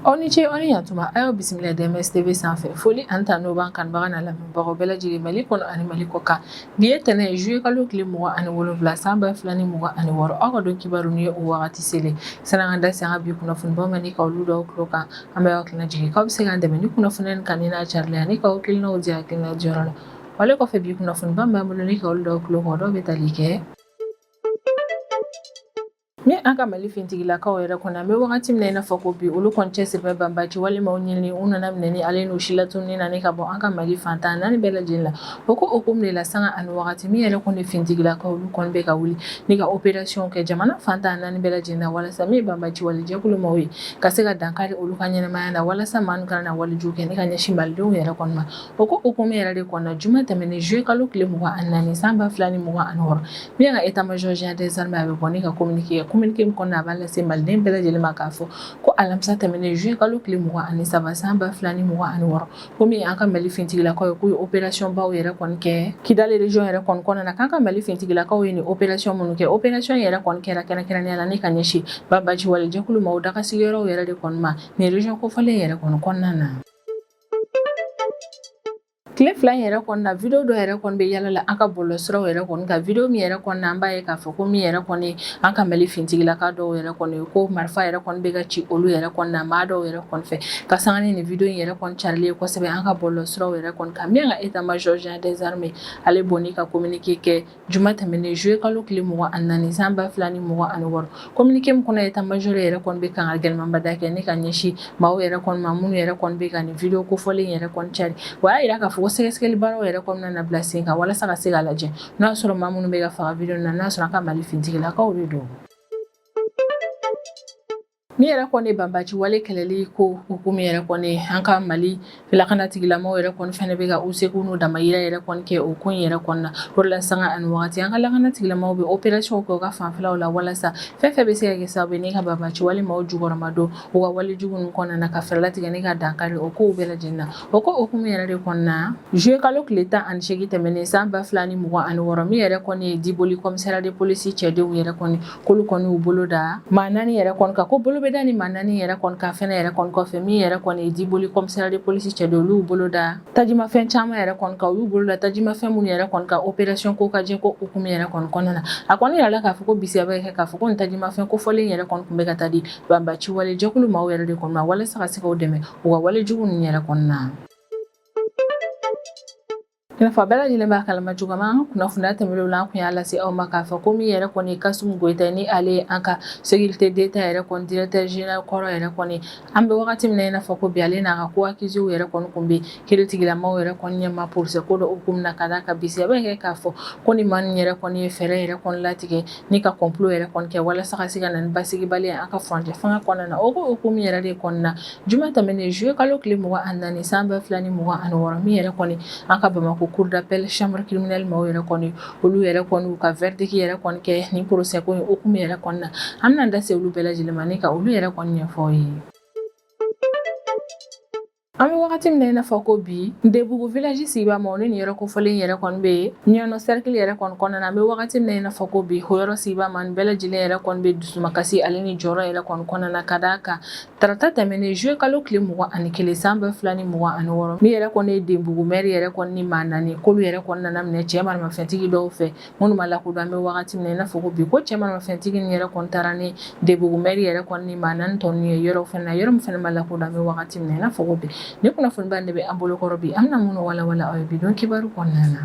aw ni ce aw ni yantuma a y'aw bisimila DMS TV sanfɛ foli ani tanu b'an kanubaga n'an lamɛnbagaw bɛɛ lajɛlen mali kɔnɔ ani mali kɔkan bi ye tɛnɛ ye juye kalo tile mugan ani wolonfila san ba fila ni mugan ani wɔɔrɔ aw ka don kibaru nin ye o wagati selen san'an ka da se an ka bi kunnafonibaw ma ni ka olu d'aw tulo kan an bɛ aw hakilina jigin k'aw bɛ se k'an dɛmɛ ni kunnafoni in kanuni n'a carili ye ani k'aw hakilinaw di hakilina diyɔrɔ la wale kɔfɛ bi kunnafoniba min b'an bolo ni ka olu d'aw tulo kan o dɔw bɛ tali kɛ Ni an ka mali fintigilakaw yɛrɛ kɔnɔ an bɛ wagati min i n'a fɔ ko bi olu kɔni cɛsirilen banbaci wale maaw ɲinini u nɔminɛni ale n'u silatununni na ka bɔ an ka mali fan tan naani bɛɛ lajɛlen la o ko hukumu de la sanga ani wagati min yɛrɛ kɔni fintigilakaw olu kɔni bɛ ka wuli ni ka operasiyɔn kɛ jamana fan tan naani bɛɛ lajɛlen na walasa min banbaci wale jɛkulu maaw ye ka se ka dankari olu ka ɲɛnamaya la walasa maa ninnu kana na wale jugu kɛ ni ka ɲɛsin malidenw yɛrɛ kɔni O ko hukumu yɛrɛ de kɔnɔ juma tɛmɛnen juillet kalo tile mugan ani naani san ba fila ni mugan ani wɔɔrɔ min ka état major général des armées a bɛ bɔ ni ka kominike kɛ kominike min kɔnɔ a b'a lase maliden bɛɛ lajɛlen ma k'a fɔ ko alamisa tɛmɛnen juillet kalo tile mugan ani saba san ba fila ni mugan ani wɔɔrɔ ko min an ka mali fintigilakaw ye k'u ye operasiyɔnbaw yɛrɛ kɔni kɛ Kidali région yɛrɛ kɔni kɔnɔna na k'an ka mali fintigilakaw ye nin operasiyɔn minnu kɛ operasiyɔn yɛrɛ kɔni kɛra kɛrɛnkɛrɛnnenya la ni ka ɲɛsin banbaci wale jɛkulu maaw dagasigiyɔrɔ yɛrɛ de kɔni ma nin région kofɔlen yɛrɛ kɔni kɔnɔna na Tile fila in yɛrɛ kɔnɔna video dɔ yɛrɛ kɔni bɛ yala la an ka bɔlɔ siraw yɛrɛ kɔni kan video min yɛrɛ kɔnɔna an b'a ye k'a fɔ ko min yɛrɛ kɔni ye an ka Mali fintigilaka dɔw yɛrɛ kɔni ye ko marifa yɛrɛ kɔni bɛ ka ci olu yɛrɛ kɔni na maa dɔw yɛrɛ kɔni fɛ ka sanga ni nin video in yɛrɛ kɔni carilen kosɛbɛ an ka bɔlɔ siraw yɛrɛ kɔni kan min ka état major général des armées ale bɔ ni ka communiqué kɛ juma tɛmɛnen juillet kalo tile mugan ani naani san ba fila ni mugan ani wɔɔrɔ communiqué min kɔnɔ état major yɛrɛ kɔni bɛ kangari gɛlɛmanba da kɛ ni ka ɲɛsin maaw yɛrɛ kɔni ma minnu yɛrɛ kɔni bɛ ka nin video kofɔlen in yɛrɛ kɔni cari wa y'a jira k'a fɔ ko sɛgɛsɛgɛli baaraw yɛrɛ kɔni nana bila sen kan walasa ka se ka lajɛ n'o y'a sɔrɔ maa minnu bɛ ka faga video na n'a sɔrɔ an ka mali fintigilakaw de don Min yɛrɛ kɔni banbaci wale kɛlɛli ko hukumu yɛrɛ kɔni an ka mali lakana tigilamaaw yɛrɛ kɔni fana bɛ ka u seko n'u damajira yɛrɛ kɔni kɛ o ko in yɛrɛ kɔnɔna na o de la sanga ani waati an ka lakana tigilamaaw bɛ operasiyɔnw kɛ u ka fanfɛlaw la walasa fɛn fɛn bɛ se ka kɛ sababu ye ni ka banbaci wale maaw jukɔrɔma don u ka wale jugu ninnu kɔnɔna na ka fɛɛrɛ tigɛ ni ka dankari o kow bɛɛ lajɛlen na o ko hukumu yɛrɛ de kɔnɔna na juillet kalo tile tan ani segin tɛmɛnen san ba fila ni mugan ani wɔɔrɔ min yɛrɛ kɔni ye diboli commissariat de police cɛdenw yɛrɛ kɔni k'olu kɔni y'u bolo da maa naani yɛrɛ kɔni kan ko bolo bɛ da nin maa naani yɛrɛ kɔni kan fɛnɛ yɛrɛ kɔni kɔfɛ min yɛrɛ kɔni ye diboli commissariat de police cɛdenw olu y'u bolo da tajimafɛn caman yɛrɛ kɔni kan u y'u bolo da tajimafɛn minnu yɛrɛ kɔni kan operasiyɔn Kokajɛ ko hukumu yɛrɛ kɔni kɔnɔna na a kɔni jirala k'a fɔ ko bisigiya bɛ kɛ k'a fɔ ko nin tajimafɛn kofɔlen yɛrɛ kɔni tun bɛ ka taa di banbaci wale jɛkulu maaw yɛrɛ de kɔni ma walasa ka se k'u dɛmɛ u ka wale jugu ninnu yɛrɛ kɔnɔna na I n'a fɔ a bɛɛ lajɛlen b'a kalama cogo min an ka kunnafoniya tɛmɛnenw na an tun y'a lase aw ma k'a fɔ ko min yɛrɛ kɔni ye Kasum Goyita ye ni ale ye an ka sécurité d'Etat yɛrɛ kɔni directeur général kɔrɔ yɛrɛ kɔni an bɛ wagati min na i n'a fɔ ko bi ale n'a ka co-accusés yɛrɛ kɔni tun bɛ kiritigɛla maaw yɛrɛ kɔni ɲɛma procès ko dɔ hukumu na ka d'a kan bisigiya bɛ kɛ k'a fɔ ko nin maa ninnu yɛrɛ kɔni ye fɛɛrɛ yɛrɛ kɔni latigɛ ni ka complot yɛrɛ kɔni kɛ walasa ka se ka na ni basigibaliya ye an ka furancɛ fanga kɔnɔna na o ko hukumu yɛrɛ de kɔnɔna na Juma tɛmɛnen zuye kalo tile mugan ani naani san ba fila ni mugan ani wɔɔrɔ min yɛrɛ kɔni an ka Bamakɔ cour d'appel chambre criminelle maaw yɛrɛ kɔni olu yɛrɛ kɔni u ka verdict yɛrɛ kɔni kɛ ni procès ko in hukumu yɛrɛ kɔnɔna na an bɛna da se olu bɛɛ lajɛlen ma ni ka olu yɛrɛ kɔni ɲɛfɔ aw ye an bɛ wagati min na i n'a fɔ ko bi Ndebugu village sigibaa maa nin nin yɔrɔ kofɔlen yɛrɛ kɔni bɛ yen Ɲɔnɔ cercle yɛrɛ kɔni kɔnɔna na an bɛ wagati min na i n'a fɔ ko bi o yɔrɔ sigibaa maa nin bɛɛ lajɛlen yɛrɛ kɔni bɛ dusumakasi ale ni jɔrɔ yɛrɛ kɔni kɔnɔna na ka d'a kan Tarata tɛmɛnen zuye kalo tile mugan ani kelen san ba fila ni mugan ani wɔɔrɔ min yɛrɛ kɔni ye Ndebugu maire yɛrɛ kɔni ni maa naani k'olu yɛrɛ kɔni nana minɛ cɛ maramafɛntigi dɔw fɛ minnu ma lakodɔn an bɛ wagati min na i n'a fɔ ko bi ko cɛ maramafɛntigi nin yɛrɛ kɔni taara ni Ndebugu maire yɛrɛ kɔni ni maa naani tɔ ninnu ye yɔrɔ fɛnɛ na yɔrɔ min fɛnɛ ma lakodɔn an bɛ wagati min na i n'a fɔ ko bi nin kunnafoniba de bɛ an bolokɔrɔ bi an bɛna minnu walawala aw ye bi don kibaru kɔnɔna na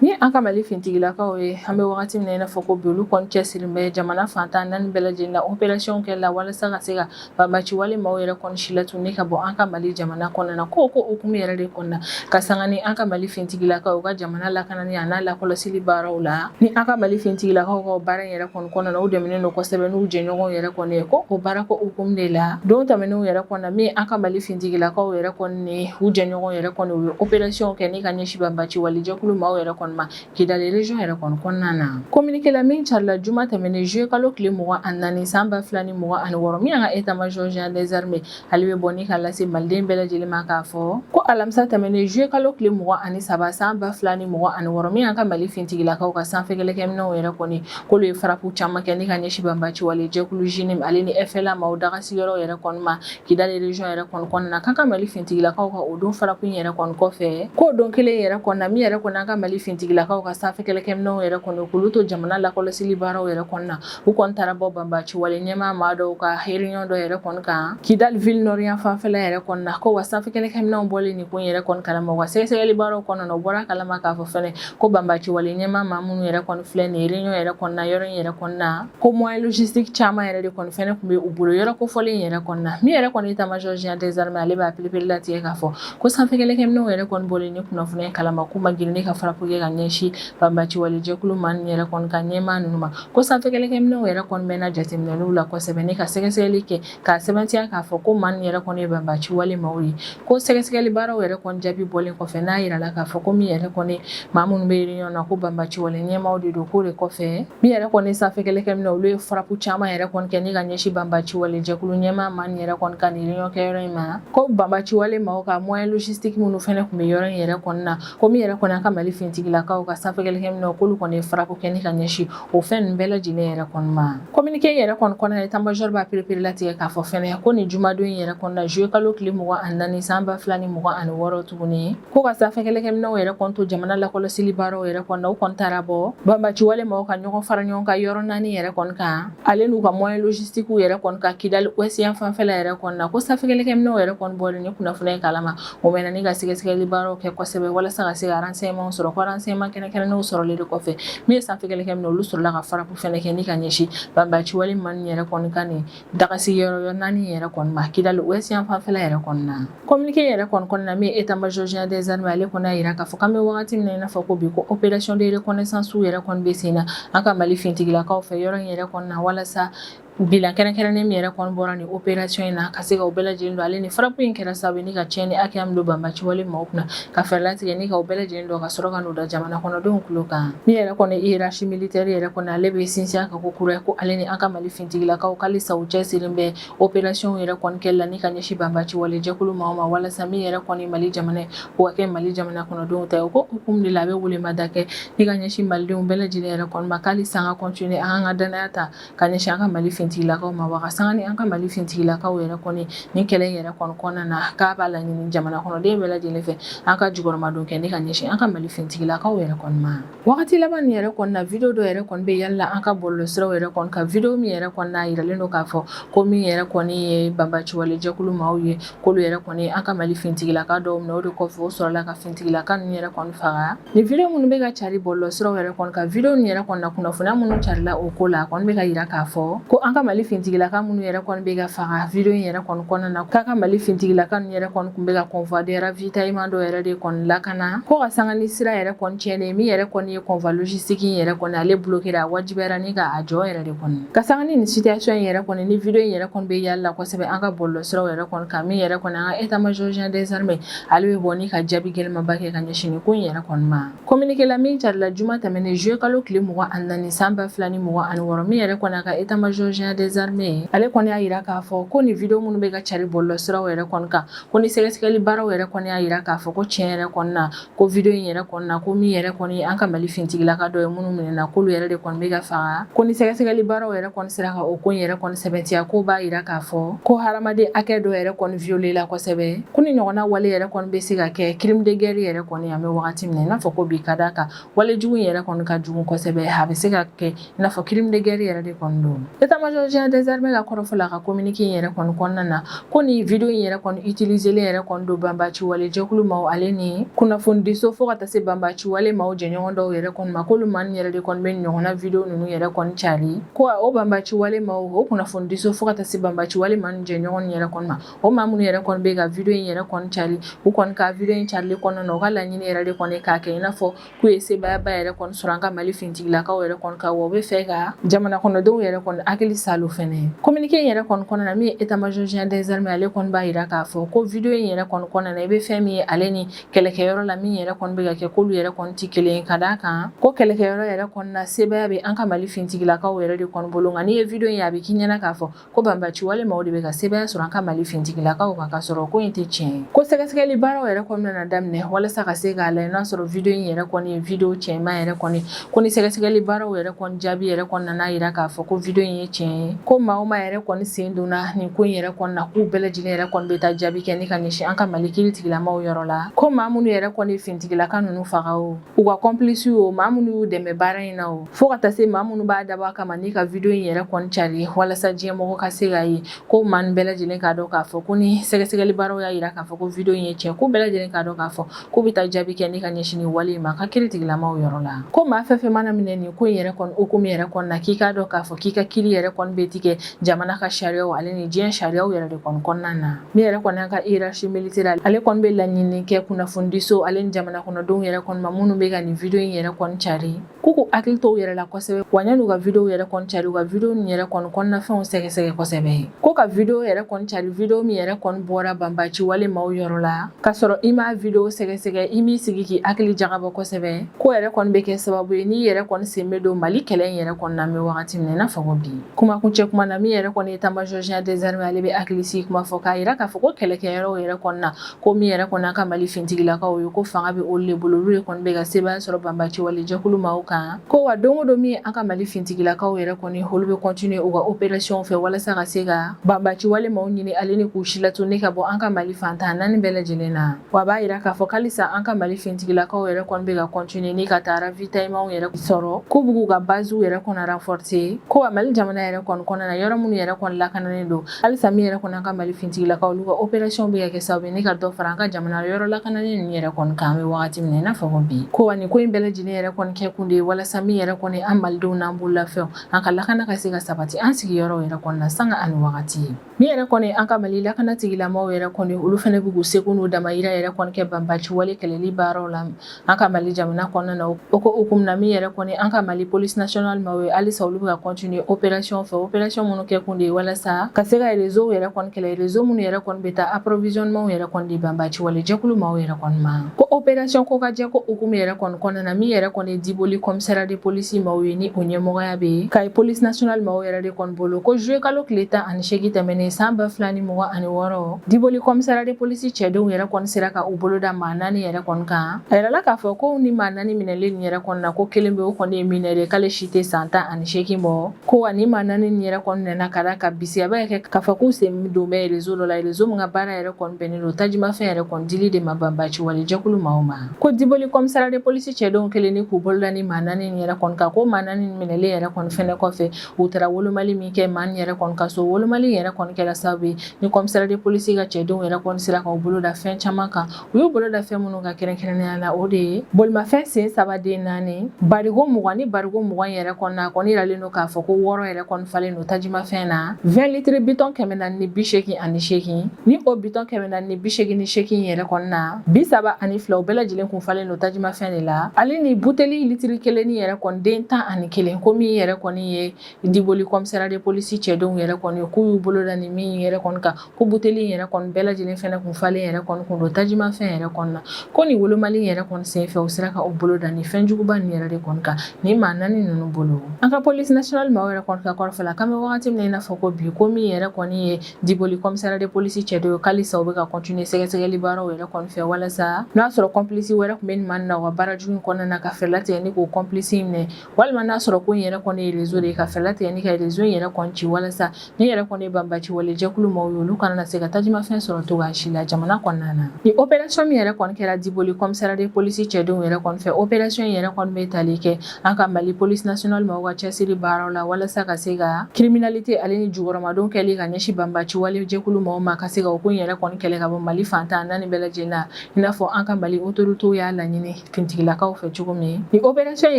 Ni an ka Mali finitigilakaw ye an bɛ wagati min na i n'a fɔ ko bi olu kɔni cɛsirilen bɛ jamana fan tan naani bɛɛ lajɛlen na opération kɛ la walasa ka se ka banbaci wale maaw yɛrɛ kɔni silatunun ni ka bɔ an ka Mali jamana kɔnɔna na ko o ko hukumu yɛrɛ de kɔnɔna ka sanga ni an ka Mali finitigilakaw u ka jamana lakanani a n'a lakɔlɔsili baaraw la ni an ka Mali finitigilakaw ka baara yɛrɛ kɔni kɔnɔna na u dɛmɛnen don kosɛbɛ n'u jɛɲɔgɔnw yɛrɛ kɔni ye ko o baara ko hukumu de la don tɛmɛnenw yɛrɛ kɔnɔna min an ka Mali finitigilakaw yɛrɛ kɔni ni u jɛɲɔgɔnw yɛrɛ kɔni u ye opération kɛ ni ka ɲɛsin banbaaci walejɛkulu maaw yɛrɛ kɔni ma Kidali région yɛrɛ kɔni kɔnɔna na communiqué la min carila juma tɛmɛnen juillet kalo tile 24 san 2026 min y'an ka état major général des armées ale b'a bɔ ni ka lase maliden bɛɛ lajɛlen ma k'a fɔ ko alamisa tɛmɛnen juillet kalo tile 23 san 2026 min y'an ka Mali fintigilakaw ka sanfɛ kɛlɛkɛminɛnw yɛrɛ kɔni k'olu ye frappe caman kɛ ni ka ɲɛsin banbaaci walejɛkulu JNIM ale ni FLA maaw dagasigiyɔrɔ yɛrɛ kɔni ma Kidali region yɛrɛ kɔni kɔnɔna na k'an ka Mali finitigilakaw ka o don frappe yɛrɛ kɔni kɔfɛ k'o don kelen yɛrɛ kɔnɔna min yɛrɛ kɔni an ka Mali finitigilakaw ka sanfɛ kɛlɛkɛminɛnw yɛrɛ kɔni k'olu to jamana lakɔlɔsili baaraw yɛrɛ kɔnɔna u kɔni taara bɔ banbaaci wale ɲɛmaa maa dɔw ka réunion dɔ yɛrɛ kɔni kan Kidali ville nord yan fanfɛla yɛrɛ kɔni na ko wa sanfɛ kɛlɛkɛminɛnw bɔlen nin ko in yɛrɛ kɔni kalama wa sɛgɛsɛgɛli baaraw kɔnɔna na u bɔr'a kalama k'a fɔ fɛnɛ ko banbaaci wale ɲɛmaa maa minnu yɛrɛ kɔni filɛ nin ye réunion yɛrɛ kɔnɔna yɔrɔ in yɛrɛ kɔnɔna ko moyen logistique caman yɛrɛ de kɔni fɛnɛ tun bɛ u bolo yɔrɔ kofɔlen yɛrɛ kɔni na min yɛrɛ kɔni état major général des armées ale b'a pereperelatigɛ k'a fɔ ko sanfɛkɛlɛkɛminɛnw yɛrɛ kɔni bɔlen nin kunnafoniya in kalama k'u ma girin ni ka farapu kɛ ka ɲɛsin banbaciwale jɛkulu maa nin yɛrɛ kɔni ka ɲɛmaa ninnu ma ko sanfɛkɛlɛkɛminɛnw yɛrɛ kɔni bɛna jateminɛliw la kosɛbɛ ni ka sɛgɛsɛgɛli kɛ ka sɛbɛntiya k'a fɔ ko maa ninnu yɛrɛ kɔni ye banbaci wale maaw ye ko sɛgɛsɛgɛli baaraw yɛrɛ kɔni jaabi bɔlen kɔfɛ n'a yirala k'a fɔ ko min yɛrɛ kɔni maa minnu bɛ réunion na ko banbaci wale ɲɛmaaw de don k'o de kɔfɛ min yɛrɛ kɔni sanfɛ kɛlɛkɛminɛw olu ye farapu caman yɛrɛ kɔni kɛ ni ka ɲɛsin banbaci wale jɛkulu ɲɛmaa maa ninnu yɛrɛ kɔni ka nin réunion kɛ yɔrɔ in ma ko banbaci wale maaw ka moyen logistique minnu fɛnɛ tun bɛ yɔrɔ in yɛrɛ kɔni na ko min yɛrɛ kɔni an ka Mali finitigilakaw ka sanfɛ kɛlɛkɛminɛw k'olu kɔni ye farapu kɛ ni ka ɲɛsin O fɛn ninnu bɛɛ lajɛlen yɛrɛ kɔni ma communiqué yɛrɛ kɔni kɔnɔna état major b'a perepere latigɛ k'a fɔ fɛnɛ ko nin jumadon in yɛrɛ kɔni na juillet kalo tile mugan ani naani san ba fila ni mugan ani wɔɔrɔ tuguni ko ka sanfɛ kɛlɛkɛminɛw yɛrɛ kɔni to jamana lakɔlɔsili baaraw yɛrɛ kɔni na u kɔni taara bɔ banbaciwale maaw ka ɲɔgɔn fara ɲɔgɔn kan yɔrɔ naani yɛrɛ kɔni kan ale n'u ka moyen logistiquew yɛrɛ kɔni kan kidali ouest yan fanfɛla yɛrɛ kɔni na ko sanfɛ kɛlɛkɛminɛw yɛrɛ kɔni bɔlen ni kunnafoniya kalama O bɛ ne ka sɛgɛsɛgɛli baaraw kɛ kosɛbɛ walasa ka se sema sɔrɔ kma kɛnɛ kɛ n'o sɔrɔ de kɔfɛ ne ye sanfɛ kɛ min olu sɔrɔla ka fara fana kɛ ne ka ɲɛsin banbaci wale ma yɛrɛ kɔnkan nin dagasi yɔrɔ naani yɛrɛ kɔnɔma kidali o sifafɛ yɛrɛ kɔnɔna kɔmimkɛ yɛrɛ kɔnɔna min e taamazya dezme ale kɔnɔ jira k'a fɔ an bɛ waati wagati n'a fɔ ko bi ko oerec deɛrɛ kɔnɛsansiw yɛrɛ kɔnɔ bɛ sen na an ka mali ftigilakaw fɛ yɔrɔ in yɛrɛ kɔnɔna walasa Bilan kɛrɛnkɛrɛnnen min yɛrɛ kɔni bɔra ni opération in na ka se ka o bɛɛ lajɛlen dɔn ale ni farapu in kɛra sababu ni ka tiɲɛni hakɛya min don banbaciwale maaw kunna ka fɛɛrɛ latigɛ ni ka o bɛɛ lajɛlen dɔn ka sɔrɔ ka n'o da jamana kɔnɔdenw tulo kan min yɛrɛ kɔni hiérarchie militaire yɛrɛ kɔni ale bɛ sinsin ka ko kura ko ale ni an ka mali fintigilakaw k'halisa u cɛsirilen bɛ opérationw yɛrɛ kɔni kɛli la ni ka ɲɛsin banbaciwale jɛkulu maaw ma walasa min yɛrɛ kɔni mali jamana ye o ka kɛ mali jamana kɔnɔdenw ta ye o ko hukumu de la a bɛ weelema da kɛ ni ka ɲɛsin malidenw bɛɛ lajɛlen yɛrɛ kɔni ma k'halisa an ka continuer an ka danaya ta ka ɲɛsin an ka mali fintigilakaw ma wa ka sanga ni an ka mali fintigilakaw yɛrɛ kɔni ni kɛlɛ in yɛrɛ kɔni kɔnɔna na k'a b'a laɲini jamana kɔnɔden bɛɛ lajɛlen fɛ an ka jukɔrɔmadon kɛ ni ka ɲɛsin an ka mali fintigilakaw yɛrɛ kɔni ma wagati laban nin yɛrɛ kɔni na video dɔ yɛrɛ kɔni bɛ yali la an ka bɔlɔlɔsiraw yɛrɛ kɔni kan video min yɛrɛ kɔni na yiralen don k'a fɔ ko min yɛrɛ kɔni ye banbaciwale jɛkulu maaw ye k'olu yɛrɛ kɔni an ka mali fintigilaka dɔw minɛ o de kɔfɛ o sɔrɔla ka fintigilaka ninnu yɛrɛ kɔni faga Nin video minnu bɛ ka cari bɔlɔlɔsiraw yɛrɛ kɔni kan video nin yɛrɛ kɔni na kunnafoniya minnu carila o ko la a kɔni bɛ ka yira k'a fɔ ko an ka mali fintigilaka minnu yɛrɛ kɔni bɛ ka faga video in yɛrɛ kɔni kɔnɔna na k'an ka mali fintigilaka ninnu yɛrɛ kɔni tun bɛ ka convoi de ravitaillement dɔ yɛrɛ de kɔni lakana ko ka sanga ni sira yɛrɛ kɔni tiɲɛnen min yɛrɛ kɔni ye convoi logistique in yɛrɛ kɔni ale blokera a wajibiyara ni ka a jɔ yɛrɛ de kɔni ka sanga ni situation in yɛrɛ kɔni ni video in yɛrɛ kɔni bɛ yali la kosɛbɛ an ka bɔlɔlɔsiraw yɛrɛ kɔni kan min yɛrɛ kɔni an ka état major général des armées Ale bɛ bɔ ni ka jaabi gɛlɛnmanba kɛ ka ɲɛsin nin ko in yɛrɛ kɔni ma communiqué la min carila juma tɛmɛnen zuye kalo tile mugan ani naani san ba fila ni mugan ani wɔɔrɔ min yɛrɛ kɔni an ka état major général des armées ye ale kɔni y'a yira k'a fɔ ko nin video minnu bɛ ka cari bɔlɔlɔsiraw yɛrɛ kɔni kan ko ni sɛgɛsɛgɛli baaraw yɛrɛ kɔni y'a yira k'a fɔ ko tiɲɛ yɛrɛ kɔni na ko video in yɛrɛ kɔni na ko min yɛrɛ kɔni an ka mali fintigilaka dɔ ye minnu minɛna k'olu yɛrɛ de kɔni bɛ ka faga ko ni sɛgɛsɛgɛli baaraw yɛrɛ kɔni sera ka o ko in yɛrɛ kɔni sɛbɛntiya k'o b'a yira k'a fɔ ko hadamaden hakɛ dɔ yɛrɛ kɔni violé la kosɛbɛ Ko nin ɲɔgɔnna wale yɛrɛ kɔni bɛ se ka kɛ crime de guerre yɛrɛ kɔni an bɛ waati min na i n'a fɔ ko bi ka d'a kan wale jugu in yɛrɛ kɔni ka jugu kosɛbɛ a bɛ se ka kɛ i n'a fɔ crime de guerre yɛrɛ de kɔni don état major général des armées ka kɔrɔfɔ la a ka communiqué in yɛrɛ kɔni kɔnɔna na ko nin video in yɛrɛ kɔni utiliselen yɛrɛ kɔni don banbaci wale jɛkulu maaw ale ni kunnafonidiso fo ka taa se banbaci wale maaw jɛɲɔgɔn dɔw yɛrɛ kɔni ma k'olu maa yɛrɛ de kɔni bɛ ɲɔgɔnna video ninnu yɛrɛ kɔni cari ko o banbaci wale maaw o kunnafonidiso fo ka taa se banbaci wale maaw jɛɲɔgɔn yɛrɛ kɔni ma o maa minnu yɛrɛ kɔni bɛ ka video in yɛrɛ kɔni cari u kɔni ka video in carili kɔnɔna na u ka laɲini yɛrɛ de kɔni ye k'a kɛ i n'a fɔ k'u ye sebaayaba yɛrɛ kɔni sɔrɔ an ka Mali finitigilakaw yɛrɛ kɔni kan wa u bɛ fɛ ka jamanakɔnɔdenw yɛrɛ kɔni hakili saalo fɛnɛ communiqué in yɛrɛ kɔni kɔnɔna na min ye état major général des armées ale kɔni b'a yira k'a fɔ ko video in yɛrɛ kɔni kɔnɔna na i bɛ fɛn min ye ale ni kɛlɛkɛyɔrɔ la min yɛrɛ kɔni bɛ ka kɛ k'olu yɛrɛ kɔni tɛ kelen ye ka d'a kan ko kɛlɛkɛyɔrɔ yɛrɛ kɔni na sebaaya bɛ an ka Mali finitigilakaw yɛrɛ de kɔni bolo nka n'i ye video in ye a bɛ k'i ɲɛna k'a fɔ ko banbaci wale maaw de bɛ ka sebaaya sɔrɔ an ka mali fintigilakaw kan ka sɔrɔ ko in tɛ tiɲɛ ye ko sɛgɛsɛgɛli baaraw yɛrɛ kɔni nana daminɛ walasa ka se k'a lajɛ n'a sɔrɔ video in yɛrɛ kɔni ye video tiɲɛma yɛrɛ kɔni ko ni sɛgɛsɛgɛli baaraw yɛrɛ kɔni jaabi yɛrɛ kɔni nan'a yira k'a fɔ ko video in ye tiɲɛ ye ko maa o maa yɛrɛ kɔni sen donna nin ko in yɛrɛ kɔni na k'u bɛɛ lajɛlen yɛrɛ kɔni bɛ taa jaabi kɛ ni ka ɲɛsin an ka mali kiritigɛla maaw yɔrɔ la ko maa minnu yɛrɛ kɔni fintigilaka ninnu faga o u ka kɔnplisiw o maa minnu y'u dɛmɛ baara in na o fo ka taa se maa minnu b'a dabɔ a kama ni ka video in yɛrɛ kɔni cari walasa diɲɛmɔgɔ ka se k'a ye ko maa nin bɛɛ lajɛlen k'a dɔn k'a fɔ ko ni sɛgɛsɛgɛli baaraw y'a yira k'a fɔ ko video in ye tiɲɛ k'u bɛɛ lajɛlen k'a dɔn k'a fɔ k'u bɛ taa jaabi kɛ ni ka ɲɛsin nin wale in ma ka kiritigɛla maaw yɔrɔ la ko maa fɛn fɛn mana minɛ nin ko in yɛrɛ kɔni hukumu yɛrɛ kɔni na k'i k'a dɔn k'a fɔ k'i ka kiri yɛrɛ kɔni bɛ tigɛ jamana ka sariyaw ale ni diɲɛ sariyaw yɛrɛ de kɔni kɔnɔna na min yɛrɛ kɔni an ka hierarchie militaire ale kɔni bɛ laɲini kɛ kunnafonidiso ale ni jamana kɔnɔdenw yɛrɛ kɔni ma minnu bɛ ka nin video in yɛrɛ kɔni cari k'u k'u hakili to u yɛrɛ la kosɛbɛ wa yan'u ka video yɛrɛ kɔni cari u ka video nin yɛrɛ kɔni kɔnɔnafɛnw sɛgɛsɛgɛ kosɛbɛ ko ka video yɛrɛ kɔni cari video min yɛrɛ kɔni bɔra banbaci wale maaw yɔrɔ la k'a sɔrɔ i m'a video sɛgɛsɛgɛ i m'i sigi k'i hakili jagabɔ kosɛbɛ k'o yɛrɛ kɔni bɛ kɛ sababu ye n'i yɛrɛ kɔni sen bɛ don mali kɛlɛ in yɛrɛ kɔni na an bɛ wagati min na i n'a fɔ ko bi kumakuncɛ kuma na min yɛrɛ kɔni ye état major général des armées ale bɛ hakilisigi kuma fɔ k'a yira k'a fɔ ko kɛlɛkɛyɔrɔw yɛrɛ kɔni na ko min yɛrɛ kɔni an ka mali fintigilakaw ye ko fanga bɛ olu de bolo olu de kɔni bɛ ka sebaaya sɔrɔ banbaci wale jɛkulu maaw kan ko wa don o don min an ka mali fintigilakaw yɛrɛ kɔni olu bɛ kɔntine u ka operasiyɔn fɛ walasa ka se ka banbaci wale maaw ɲini ale ni k'u silatunun ka bɔ an ka mali fan tan ni naani bɛɛ lajɛlen na Wa a b'a yira k'a fɔ halisa an ka mali fintigilakaw yɛrɛ kɔni bɛ ka kɔntine ni ka taa ravitayimanw yɛrɛ sɔrɔ k'u b'u ka baziw yɛrɛ kɔni ranfɔrse ko wa mali jamana yɛrɛ kɔni kɔnɔna na yɔrɔ minnu yɛrɛ kɔni lakananen don halisa min yɛrɛ kɔni an ka mali fintigilakaw olu ka operasiyɔn bɛ ka kɛ sababu ye ni ka dɔ fara an ka jamana yɔrɔ lakananen ninnu yɛrɛ kɔni kan an bɛ wagati min na i n'a fɔ ko bi ko wa nin ko in bɛɛ lajɛlen yɛrɛ kɔni kɛ kun de ye walasa min yɛrɛ kɔni an malidenw n'an bololafɛnw an ka lakana ka se ka sabati an sigiyɔrɔw yɛrɛ kɔni na sanga ani wagati ye Min yɛrɛ kɔni an ka mali lakana tigilamaaw yɛrɛ kɔni olu fɛnɛ bɛ k'u seko n'u damayira yɛrɛ kɔni kɛ banbaciwale kɛlɛli baaraw la an ka mali jamana kɔnɔna na o ko hukumu na min yɛrɛ kɔni an ka mali polisi nasionali maaw ye halisa olu bɛ ka kɔntine operasiyɔn fɛ operasiyɔn minnu kɛ kun de ye walasa ka se ka erezow yɛrɛ kɔni kɛlɛ erezo minnu yɛrɛ kɔni bɛ taa aporovizɔnimanw yɛrɛ kɔni di banbaciwalejɛkulu maaw yɛrɛ kɔni ma ko operasiyɔn kokajɛ ko hukumu yɛrɛ kɔni kɔnɔna na min yɛrɛ kɔni Diboli kɔmisara de polisi maaw ye ni o ɲɛmɔgɔya bɛ kayi polisi nasionali maaw yɛrɛ de kɔni bolo ko zuluye kalo tile tan ani seegin tɛmɛnen san ba fila ni mugan ani wɔɔrɔ diboli kɔmisara de polisi cɛdenw yɛrɛ kɔni sera ka u bolo da maa naani yɛrɛ kɔni kan a yirala k'a fɔ ko ni maa naani minɛlen nin yɛrɛ kɔni na ko kelen bɛ o kɔni ye minɛri k'ale si tɛ san tan ani seegin bɔ ko wa ni maa naani nin yɛrɛ kɔni minɛna ka d'a kan bisigiya bɛ kɛ k'a fɔ k'u sen don bɛ erezo dɔ la erezo min ka baara yɛrɛ kɔni bɛnnen don tajimafɛn yɛrɛ kɔni dili de ma banbaciwalejɛkulu maaw ma ko diboli kɔmisara de polisi cɛdenw kɛlen ni k'u bolo da ni maa naani in yɛrɛ kɔni kan ko maa naani minɛlen yɛrɛ kɔni fɛnɛ kɔfɛ u taara wolomali min kɛ maa yɛrɛ kɔni ka so wolomali yɛrɛ kɔni kɛra sababu ye ni kɔmisara de polisi ka cɛdenw yɛrɛ kɔni sera k'u bolo da fɛn caman kan u y'u bolo da fɛn minnu kan kɛrɛnkɛrɛnnenya la o de ye bolimafɛn sen saba den naani barigo mugan ni barigo mugan yɛrɛ kɔni na a kɔni yiralen don k'a fɔ ko wɔɔrɔ yɛrɛ kɔni falen don tajimafɛn na 20 litiri bidɔn kɛmɛ naani ni bi seegin ani seegin ni o bidɔn kɛmɛ naani ni bi seegin ni seegin yɛrɛ kɔni na bi saba ani fila u bɛɛ lajɛlen kun falen don tajimafɛn de la ale ni buteli litiri kelen ni yɛrɛ kɔni den tan ani kelen ko min yɛrɛ kɔni ye diboli kɔmisara de polisi cɛdenw yɛrɛ kɔni k'u y'u bolo da ni min yɛrɛ kɔni kan ko buteli yɛrɛ kɔni bɛɛ lajɛlen fɛnɛ kun falen yɛrɛ kɔni kun don tajimafɛn yɛrɛ kɔni na ko nin wolomali yɛrɛ kɔni senfɛ u sera ka u bolo da ni fɛn juguba nin yɛrɛ de kɔni kan ni maa naani ninnu bolo an ka polisi national maaw yɛrɛ kɔni ka kɔrɔfɔ la k'an bɛ wagati min na i n'a fɔ ko bi ko min yɛrɛ kɔni ye Diboli kɔmisara de polisi cɛdenw halisa u bɛ ka kɔntine sɛgɛsɛgɛli baaraw yɛrɛ kɔni fɛ walasa n'a sɔrɔ kɔmplisi wɛrɛ kun bɛ nin maa ninnu ka baara jugu kɔnɔna na ka fɛɛrɛ latigɛ ni k'o kɔmplisi minɛ walima n'a sɔrɔ ko in yɛrɛ kɔni ye erezo de ye ka fɛɛrɛ latigɛ ni ka erezo in yɛrɛ kɔni ci walasa min yɛrɛ kɔni ye banbaciwalejɛkulu maaw ye olu kana na se ka tajimafɛn sɔrɔ cogoya si la jamana kɔnɔna na ni operasiyɔn min yɛrɛ kɔni kɛra diboli kɔmisara de polisi cɛdenw yɛrɛ kɔni fɛ operasiyɔn in yɛrɛ kɔni bɛ tali kɛ An ka mali police nationale maaw ka cɛsiri baaraw la walasa ka se ka criminalité ale ni jukɔrɔmadon kɛli ka ɲɛsin banbaci walejɛkulu maaw ma ka se ka ko in yɛrɛ kɔni kɛlɛ ka bɔ mali fantan naani bɛɛ lajɛlen na i n'a fɔ an ka mali autorités y'a laɲini finitigilakaw fɛ cogo min nin opération in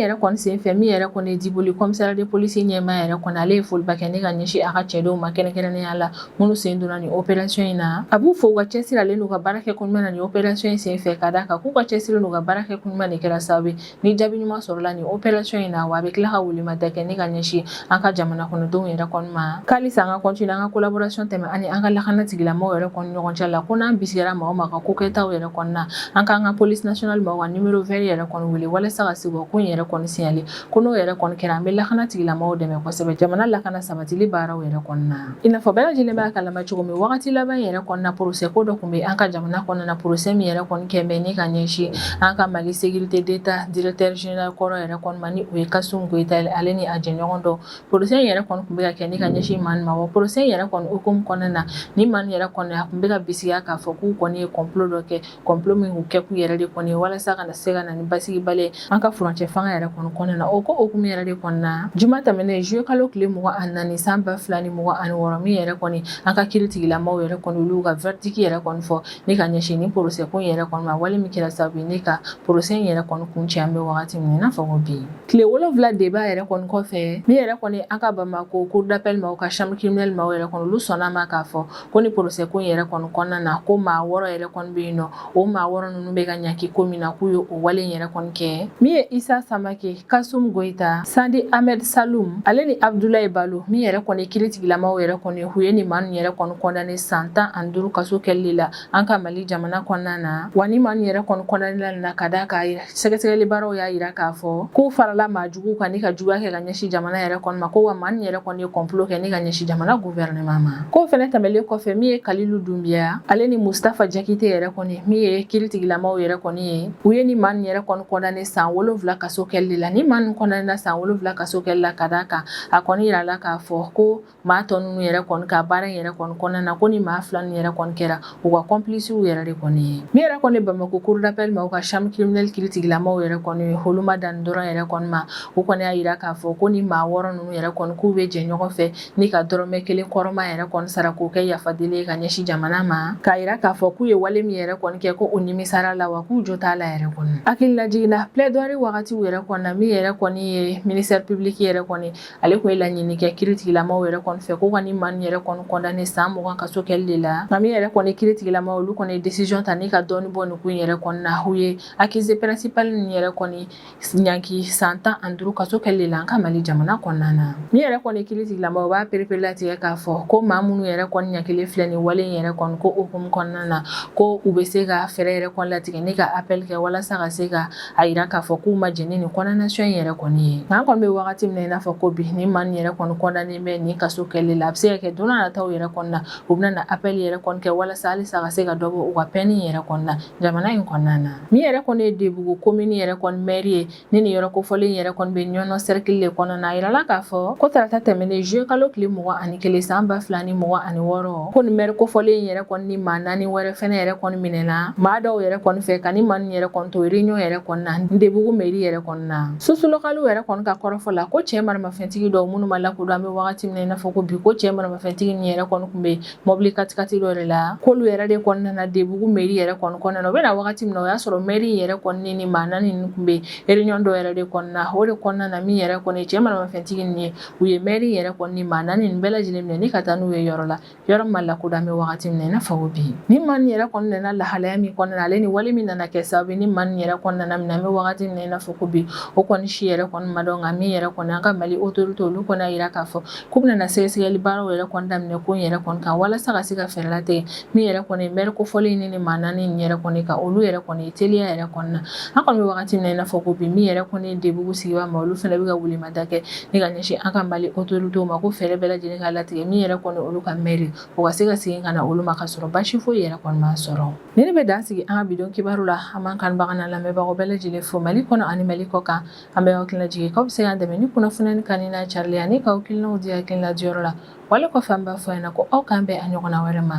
yɛrɛ kɔni sen fɛ min yɛrɛ kɔni diboli commissariat de police ɲɛmaa yɛrɛ kɔni ale ye foliba kɛ ni ka ɲɛsin a ka cɛdenw ma kɛrɛnkɛrɛnnenya la minnu sen donna nin opération in na a b'u fo u ka cɛsiri ale n'u ka baara kɛ ko ɲuman na nin opération in sen fɛ ka d'a kan k'u ka cɛsiri n'u ka baara kɛ ko ɲuman de kɛra sa ni jaabi ɲuman sɔrɔla nin opération in na wa a bɛ tila ka welemada kɛ ni ka ɲɛsin an ka jamana kɔnɔdenw yɛrɛ kɔni ma k'alisa an ka continuer an ka collaboration tɛmɛ ani an ka lakana tigilamɔgɔw yɛrɛ kɔni ɲɔgɔn cɛ la ko n'an bisigara maa o maa ka ko kɛtaw yɛrɛ kɔni na an k'an ka police nationale maaw ka numéro vert yɛrɛ kɔni wele walasa ka se ka ko in yɛrɛ kɔni signaler ko n'o yɛrɛ kɔni kɛra an bɛ lakana tigilamɔgɔw dɛmɛ kosɛbɛ jamana lakana sabatili baaraw yɛrɛ kɔni na I n'a fɔ bɛɛ lajɛlen b'a kalama cogo min wagati laban in yɛrɛ kɔnɔna procès ko dɔ kun bɛ an ka jamana kɔnɔna procès min yɛrɛ kɔni kɛlen bɛ ni ka ɲɛsin an ka Mali sécurité d'Etat directeur général kɔrɔ yɛrɛ kɔni ma ni o ye Kasum Goyita ye ale ni a jɛɲɔgɔn dɔ procès in yɛrɛ kɔni kun bɛ ka kɛ ni ka ɲɛsin maa ninnu ma wa procès in yɛrɛ kɔni hukumu kɔnɔna na nin maa ninnu yɛrɛ kɔni a kun bɛ ka bisigiya k'a fɔ k'u kɔni ye complot dɔ kɛ complot min k'u kɛ k'u yɛrɛ de kɔni walasa ka na se ka na ni basigibali ye an ka furancɛ fanga yɛrɛ kɔni kɔnɔna na o ko hukumu yɛrɛ de kɔnɔna juma tɛmɛnen zuye kalo tile mugan ani naani san ba fila ni mugan ani wɔɔrɔ min yɛrɛ kɔni an ka kiritigilamaw yɛrɛ kɔni olu ka verdict yɛrɛ kɔni fɔ ni ka ɲɛsin ni procès ko yɛrɛ kɔni ma wale min kɛra sababu ni ka procès in yɛrɛ kɔni kuncɛ an bɛ wagati min n'a fɔ ko bi tile wolonwula débat yɛrɛ kɔni kɔfɛ min yɛrɛ kɔni an ka bamako cour d'appel maaw ka chambre criminelle maaw yɛrɛ kɔni olu sɔnna ma k'a fɔ ko ni procès ko yɛrɛ kɔni kɔnɔna na ko maa wɔɔrɔ yɛrɛ kɔni bɛ yen n'o maa wɔɔrɔ ninnu bɛ ka ɲaki ko min na k'u ye o wale yɛrɛ kɔni kɛ min ye isa samake kasum goyita sandi ahmed salum ale ni abdulayi balo min yɛrɛ kɔni kiritigilamaw yɛrɛ kɔni u ye nin maa ninnu yɛrɛ kɔni condamné san tan ani duuru kaso kɛli la an ka mali jamana kɔnɔna na wa ni maa ninnu yɛrɛ kɔni condamnéla na ka d'a kan yɛrɛ Sɛgɛsɛgɛli baaraw y'a yira k'a fɔ k'u farala maa jugu kan ni ka juguya kɛ ka ɲɛsin jamana yɛrɛ kɔni ma ko wa maa ninnu yɛrɛ kɔni ye complot kɛ ni ka ɲɛsin jamana gouvernement ma k'o fɛnɛ tɛmɛlen kɔfɛ min ye kalilu dunbiya ale ni mustafa jakite yɛrɛ kɔni min ye kiritigilamaw yɛrɛ kɔni ye u ye ni maa ninnu yɛrɛ kɔni condamné san wolonwula kaso kɛli la ni maa ninnu condamnéla san wolonwula kaso kɛli la ka d'a kan a kɔni yirala k'a fɔ ko maa tɔ ninnu yɛrɛ kɔni ka baara in yɛrɛ kɔni kɔnɔna na ko ni maa fila ninnu yɛrɛ kɔni kɛra u ka complices yɛrɛ de kɔni ye min yɛrɛ kɔni bamakɔ cour d'appel maaw ka chambre criminelle kiritigilamaw yɛrɛ kɔni olu ma dan dɔrɔn yɛrɛ kɔni ma u kɔni y'a yira k'a fɔ ko ni maa wɔɔrɔ ninnu yɛrɛ kɔni k'u bɛ jɛ ɲɔgɔn fɛ ni ka dɔrɔmɛ kelen kɔrɔma yɛrɛ kɔni sara k'o kɛ yafadeli ye ka ɲɛsin jamana ma k'a yira k'a fɔ k'u ye wale min yɛrɛ kɔni kɛ ko u nimisara la wa k'u jo t'a la yɛrɛ kɔni hakililajigin na plaidoirie wagatiw yɛrɛ kɔnɔna min yɛrɛ kɔni ye ministère public yɛrɛ kɔni ale kun ye laɲini kɛ kiri tigilamaw yɛrɛ kɔni fɛ ko ka ni maa nin yɛrɛ kɔni kɔndane san mugan kaso kɛli de la nka min yɛrɛ kɔni kiri tigilamaw olu kɔni ye desizɔn ta ni ka dɔɔni bɔ nin ko in yɛrɛ kɔni na u ye akize pɛrɛnsipali nin yɛrɛ kɔni ɲanki san tan ani duuru kaso kɛli de la an ka mali jamana kɔnɔna na min yɛrɛ kɔni kiri tigilamaw b'a perepere latigɛ k'a fɔ ko maa minnu yɛrɛ kɔni ɲankilen filɛ nin wale in yɛrɛ kɔni ko hukumu kɔnɔna na ko u bɛ se ka fɛɛrɛ yɛrɛ kɔni latigɛ ni ka apɛli kɛ walasa ka se ka a jira k'a fɔ k'u ma jɛn ni nin kɔndanasiyɔn in yɛrɛ kɔni ye nka an kɔni bɛ wagati min na i n'a fɔ ko bi ni maa nin yɛrɛ kɔni kɔndanenen bɛ nin kaso kɛli la a bɛ se ka kɛ don nataw yɛrɛ kɔni na u bɛna na apɛli yɛrɛ kɔni kɛ walasa halisa ka se ka dɔ bɔ u ka pɛni yɛrɛ kɔni na jamana in kɔnɔna na min yɛrɛ kɔni ye debugu komini yɛrɛ kɔni mɛri ye ni nin yɔrɔ kofɔlen yɛrɛ kɔni bɛ ɲɔnɔ sɛrikili de kɔnɔna a jirala k'a fɔ ko tarata tɛmɛnen zuluye kalo tile mugan ani kelen san ba fila ni mugan ani wɔɔrɔ ko nin mɛri kofɔlen in yɛrɛ kɔni ni maa naani wɛrɛ fɛnɛ yɛrɛ kɔni minɛna maa dɔw yɛrɛ kɔni fɛ ka ni maa nin yɛrɛ kɔni to réunion yɛrɛ kɔni na debugu meri yɛrɛ kɔni na surusi lokaliw yɛrɛ kɔni ka kɔrɔfɔ la ko cɛɛ maramafɛntigi dɔw minnu ma lakodɔn an be wagati min na i n'a fɔ ko bi ko cɛɛ maramafɛntigi nin yɛrɛ kɔni kun be mɔbili katikati dɔ de la k'olu yɛrɛ de kɔni nana debugu meri yɛrɛ kɔni kɔnɔna na u bena wagati min na o y'a sɔrɔ mɛri in yɛrɛ kɔni ni ni maa naani nin kun be réunion dɔ yɛrɛ de kɔni na o de kɔnɔna na min yɛrɛ kɔni cɛɛ maramafɛntigi nin ye u ye mɛri yɛrɛ kɔni ni maa naani nin bɛɛ lajɛlen minɛ ni ka taa n'u ye yɔrɔ la yɔrɔ min ma lakodɔn an bɛ wagati min na i n'a fɔ ko bi ni maa nin yɛrɛ kɔni nana lahalaya min kɔnɔna ale ni wale min nana kɛ sababu ni maa nin yɛrɛ kɔni nana minɛ an bɛ wagati min na i n'a fɔ ko bi o kɔni si yɛrɛ kɔni ma dɔn nka min yɛrɛ kɔni an ka mali otoritew olu kɔni y'a jira k'a fɔ k'u bɛna sɛgɛsɛgɛli baaraw yɛrɛ kɔni daminɛ ko yɛrɛ kɔni kan walasa ka se ka fɛɛrɛ latigɛ min yɛrɛ kɔni mɛri kofɔlen in ni maa naani nin yɛrɛ kɔni ka olu yɛrɛ kɔni teliya yɛrɛ kɔni na an kɔni bɛ wagati min na i n'a fɔ ko bi min yɛrɛ kɔni debugu sigi maa olu fɛnɛ bɛ ka wuli ma da kɛ ni ka ɲɛsin an ka mali otoritew ma ko fɛɛrɛ bɛɛ lajɛlen ka latigɛ min yɛrɛ kɔni olu ka mɛri o ka se ka segin ka na olu ma ka sɔrɔ basi foyi yɛrɛ kɔni ma sɔrɔ nin de bɛ dan sigi an ka bi don kibaru la an man kanbaga lamɛnbagaw bɛɛ lajɛlen fo mali kɔnɔ ani mali kɔ kan an bɛ hakililajigin k'aw bɛ se k'an dɛmɛ ni kunnafoni kanuni n'a carili ye ani k'aw hakilinaw di hakilina diyɔrɔ la wale kɔfɛ an b'a fɔ yan na ko aw k'an bɛn a ɲɔgɔnna wɛrɛ ma